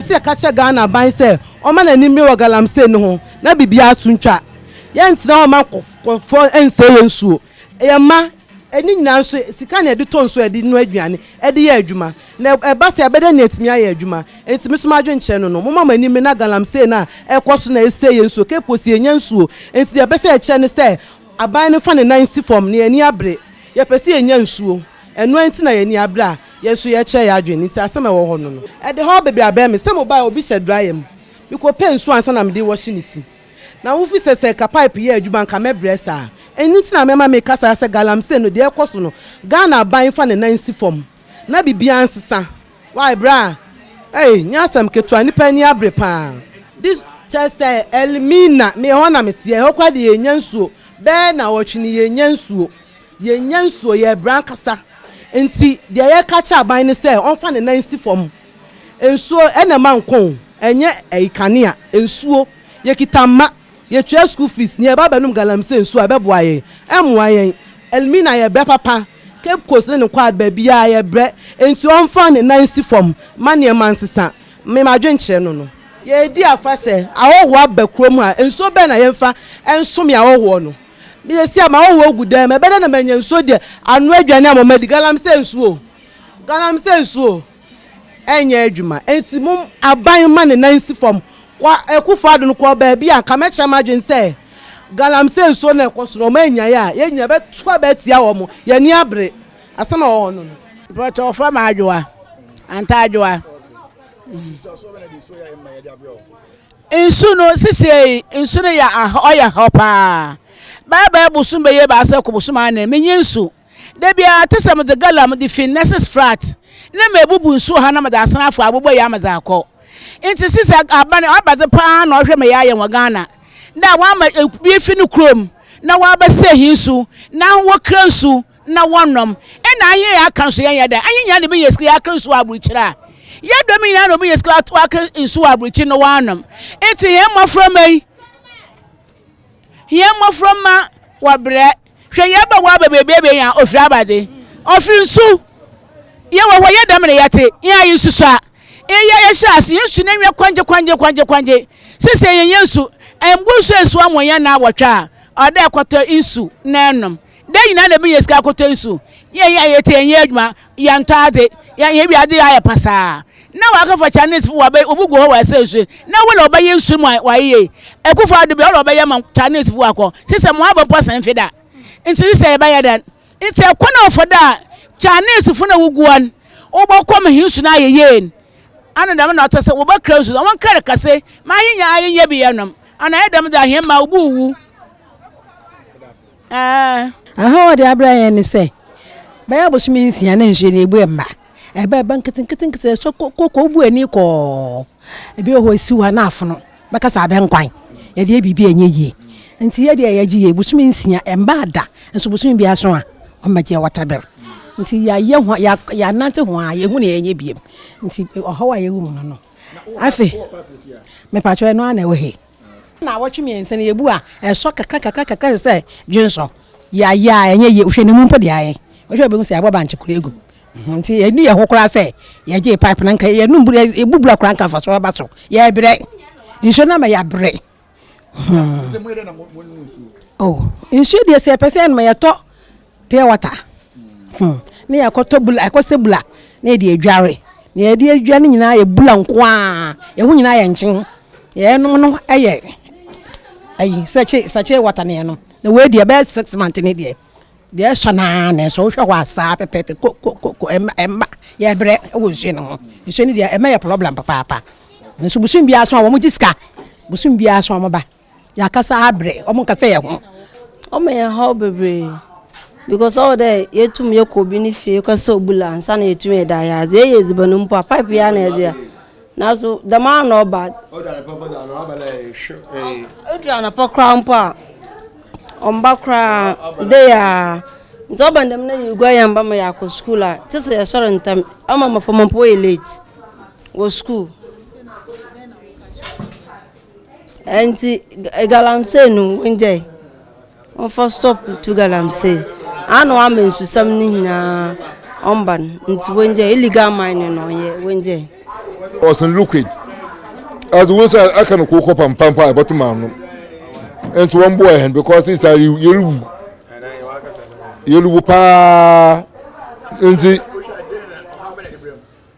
Yɛpɛsɛ yɛka kyerɛ Ghana aban sɛ wɔma no anim mmere wɔ galamsey no ho na biribiara to ntwa. Yɛntena hɔ mma nkorɔfoɔ nsɛe yɛn nsuo, yɛn mma, ɛne nyinaa nso sika na yɛde tɔ nsuo a yɛde noa aduane, de yɛ adwuma. Na ɛba saa a yɛbɛdɛ na yɛatumi ayɛ adwuma. Enti me so m'adwene kyerɛ no no, momma mo anim mmere na galamsey no a ɛrekɔ so no na ɛsɛe yɛn nsuo. Cape Coast yɛnnya nsuo, enti deɛ yɛpɛsɛ yɛkyerɛ ne sɛ aban no mfa ne nan nsi fam na yɛn ani abere. Yɛpɛsɛ yɛnya nsuo. Ɛno nti na yɛn ani abere a yɛn nso yɛrekyerɛ yɛn adwene nti asɛm a ɛwɔ hɔ no no. Ɛde haw bebree abrɛ me. Sɛ mobae a obi hyɛ dryer mu. Mekɔpɛ nsuo ansa na mede wɔhye ne ti. Na wofi sɛ sɛ ɛka pipe yɛ adwuma anka mɛbrɛ saa. Ɛno nti na mɛma meka saa sɛ galamsey no deɛ ɛrekɔ so no Ghana aban fa ne nan si fam na biribiara nsesa. Wai bra ei nyɛ asɛm ketewa nnipa ani abere paa. This kyerɛ sɛ Elmina meyɛ hɔ na meteɛ. Ɛhɔ koraa deɛ yɛnnya nsuo bɛyɛ nnawɔtwe ni yɛnnya nsuo. Yɛnnya nsuo, yɛrebrɛ ankasa. Nti deɛ yɛreka akyerɛ aban ne sɛ ɔmfa ne nan nsi fam. Nsuo na ɛma nkwa o, ɛnyɛ ɛyi kanea, nsuo. Yɛkita mma, yɛtua school fees na yɛba abɛnom galamsey nsuo a, ɛbɛboa yɛn? Ɛmmoa yɛn. Elmina yɛbrɛ papa, Cape Coast ne ne quad baabiara yɛbrɛ. Nti ɔmfa ne nan nsi fam ma nneɛma nsesa. Me m'adwenkyerɛ no no. Yɛredi afahyɛ, ahɔhoɔ aba kurom ha, nsuo bɛn na yɛmfa nsome ahɔhoɔ no? Meyɛ sei a m'ahɔhoɔ agu dɛm, ɛbɛyɛ dɛn na manya nsuo deɛ anoa aduane a mama adi? Galamsey nsuo o, galamsey nsuo o, ɛnyɛ adwuma. Enti mom aban mma ne nan nsi fam. Kwa Akuffo Addo no kɔɔ baabi a anka mɛkyerɛ m'adwene sɛ galamsey nsuo na ɛkɔ so no, wɔn annyae a, yɛn nyinaa yɛbɛto aba atia wɔn. Yɛn ani abere. Asɛm a ɛwɔ hɔ no no. Mpakyɛ wɔfrɛ me Adwoa, Antaa Adwoa. Nsusuasoɔ bɛn na de nsuo yɛ a ɛmma yɛde abrɛ wo? Nsu no, sesei nsu no yɛ ahɔ, ɔyɛ hɔ paa. Bɛbɛyɛ bosoom bɛyɛ ebiasa kɔ bosoom anan, minnyi nsu. Da biara, tse sɛ medze gallon a medze fi Nesses Flats na meebubu nsu wɔ ha na medze asan afa abobɔ yi ama dze akɔ. Ntsi sesei aban abadze paa na ɔhwɛ ma yɛayɛ wɔ Ghana, dɛ wɔama obi efi no kurow mu na wɔabɛsɛɛ hɛn nsu, na hɔn wokura nsu, na wɔnnɔm. Nna ahe a aka nso yɛnyɛ dɛn? Ahe nyinaa na ebenya sika yɛakra nsu wɔ aborɔkyir a yɛdɔm nyinaa na wɔbenya sika wɔakra nsu wɔ aborɔkyir na wɔanom. Ntsi hɛn mboframba yi, hɛn mboframba wɔbrɛ. Hwɛ yɛba wɔaba beebi a ebenya ofir abadze, ofir nsu. Yɛwɔ hɔ yɛ dɛm na yɛtse, hɛn a yesusua. Iyi a yɛhyɛɛ ase, hɛn nsu n'enyiwa kwangye kwangye kwangye kwangye. Sesei yɛnnyɛ nsu, mbu nsu ennsuo ama ɔnyɛ naawɔtwe a, ɔwɔ dɛ ekɔtɔ nsu na enom. Dɛn nyinaa na ebenya sika akotow yi so? Yɛn yɛ ayɛ ti, yɛnyɛ adwuma, yɛntɔ adze, yɛyɛ wiadze yi ayɛ pasaa. Nna wɔakɛfa Chinesefo wɔabɛ wobogu hɔ wɔ Asau su, na wɔ na wɔbɛyɛ nsu no mu ayɛyie. Ekuffo Addo bi, ɔwɔ na wɔbɛyɛ ama Chinesefo wɔakɔ. Sesɛ mo aba mpo asan mfe da. Ntsi sesɛ yɛbɛyɛ dɛn? Ntsi ɛkwan a ɔfa do a Chinesefo no a wogua no wɔbɔkɔ ma hɛn nsu no ayɛ yie no, ana dɛm na ɔtse sɛ wɔbɛkra nsu no? Hɔn kar kɛse ma ayenya ayɛyie bi yɛnom, ana ayɛ dɛm dze a hɛn mba wobowuwu? Aa! Aha a ɔde abrɛ yɛn ne sɛ, bɛyɛ abosome nsia na nsuo no ɛbu mma. Ɛba ɛba nketenketenkete, ɛsɔ kɔkɔ, wobu ani kɔɔ. Ebi wɔ hɔ ɛsi hɔ a na afono bɛka sɛ abɛnkwan. Yɛdeɛ biribi ɛnyɛ yie. Nti yɛ deɛ yɛgye yie, bosome nsia ɛmmaa da, nso bosome biara so a wɔbɛgyeɛ waterbill. Nti yɛayɛ ho a, yɛanante ho a yɛhu deɛ yɛnyɛ biom. Nti ɔhaw a yɛwɔ mu no no. Afei, mepakyɛw ɛno ara na ɛwɔ he? Naawɔtwe mmiɛnsa ni, yɛbu a, ɛsɔ kakra kakra kakra te sɛ dwensɔ. Yɛayɛ a, ɛnyɛ yie. Wohwɛ ne mu mpo deɛ ayɛ. Wohwɛ a wobɛhu sɛ yɛabɔ bankye koraa agu. Nti ɛnu yɛ hɔ koraa sɛ yɛgyee pipe no anka yɛnum bura yɛbu bura koraa anka mfasoɔ aba so. Yɛbrɛ. Nsuo no ama yɛabrɛ. Hmm. Oh, nsuo deɛ sɛ yɛpɛ sɛ yɛnom a yɛtɔ pure water hmm ne yɛkɔtɔ bula yɛkɔsɛ bula na yɛde adware na yɛde adware no nyinaa yɛ bula nko ara yɛn ho nyinaa yɛ nkyen yɛnom no yɛ ayi sɛkye sɛkye water na yɛnom na wei deɛ ɛbɛyɛ six months ne deɛ deɛ ɛsɔ no ara na ɛsɔ wohwɛ hɔ a saa pɛpɛɛpɛ ko ko ko ko ɛmma ɛmma yɛbrɛ wɔ nsuo no ho nsuo no deɛ ɛmma yɛ problem papaapa nso bosom biara so a wɔn gye sika bosom biara so a wɔn ba. Yɛakasa abrɛ, wɔnkasa yɛn ho. Wɔma yɛn haw bebree because ɔwɔ dɛ yetum yɛkɔ obi ne fie kɔsɛ obu la ansa na yetum yɛda ayɛ adze. Yɛyɛ edziban mpo a pipe yi ara na yɛdze yɛ. Naaso dɛm ara na ɔba. Odu anapa mpo dza ɔaba na yɛhwɛ. Odu anapa koraa mpo a, ɔmmba koraa, day ara. Ntsi ɔba no dɛm na yeguar hɛn mba ma yɛakɔ skuul a, kyerɛ sɛ yɛsoɛr ntsɛm. Ɔma mboframba mpo wɔyɛ late wɔ skuul. Nti galamsey no wongyae ɔmfa stop to galamsey ana wama nsusɛm no nyinaa ɔmba no nti wongyae illegal mining na ɔnyɛ wongyae. Ɔsen liquid as wɔn sɛ aka no koko pampampa a ɛbɛto maa no nti wɔn boɔ ɛhɛn because sɛ sɛ yɛrewu yɛrewu paa nti.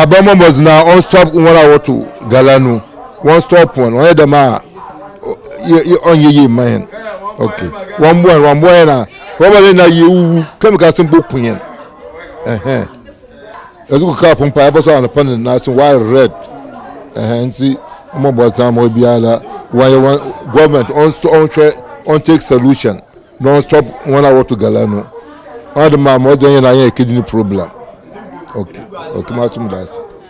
abɛmɔ mbɔdzi na ɔn stop wɔn a wɔto gala no wɔn stop wɔn wɔn yɛ dɛm a ɔn yɛ yie mma yɛn ok wɔn mboa yɛn wɔn mboa yɛn na rɔba ne na yɛ wuwu kɛmika se mpo ku yɛn ɛhɛn ɛdze kɔ kaa pon paa ɛbɛsɔ anapa ne na se why red ɛhɛn nti wɔn bɔ dzi na wɔn biara wɔn yɛ wɔn gɔɔmɛnt ɔn hwɛ ɔn take solution. Don stop wɔn a wɔto gala no ɔde ma ma ɔgya yɛn na yɛn ɛkɛdi ne problem ok ok ma som daase.